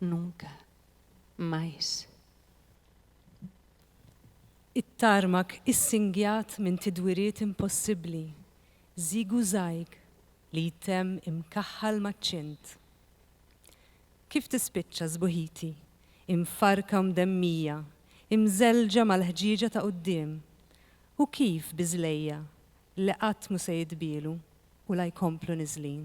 Nunca mais. It-tarmak issingjat minn tidwiriet impossibbli, zigu-zajg li jtemm imkaħħal maċ-ċint. Kif tispiċċa sbuħiti, imfarrka u mdemmija, imżelġa mal-ħġieġa ta' quddiem, u kif bi żlejja li qatt mhu se jitbielu u la jkomplu niżlin.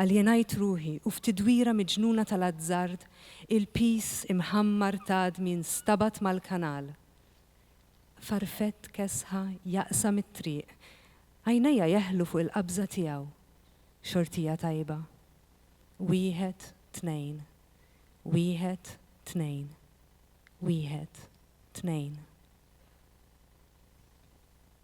Aljenajt ruħi u f'tidwira miġnuna tal-azzard il-piż imħammar t'għadmi nstabad mal-kanal. Farfett kesħa jaqsam it-triq. Għajnejja jeħlu fuq il-qabża tiegħu. Xortija tajba. Wieħed, tnejn. Wieħed, tnejn. Wieħed, tnejn.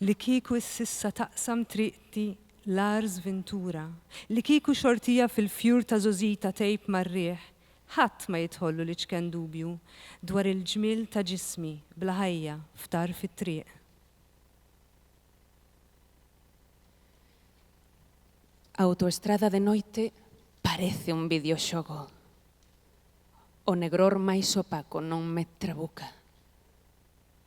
Li kieku is-sissa taqsam triqti Lars Vintura, li kieku xortija fil-fjur ta' żożita tgħib mar-riħ, ħadd ma jidħollu l-iċken dubju dwar il-ġmiel ta' ġismi bla ħajja f'tarf it-triq. Autoestrada de noite parece un videoxogo, o negror mais opaco non me trabuca.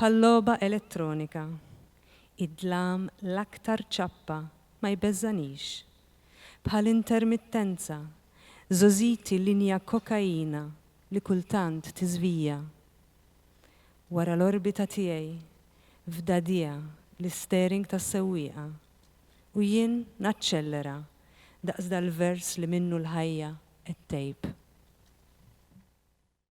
Bħal-logħba elettronika, id-dlam l-aktar ċappa ma jbeżżanix. Bħal-intermittenza, żożiti linja kokaina li kultant tiżvija. Wara l-orbita tiegħi, f'dagħdigħa l-istering tas-sewwieqa, u jien naċċellera daqs dal-vers li minnu l-ħajja qed tgħib.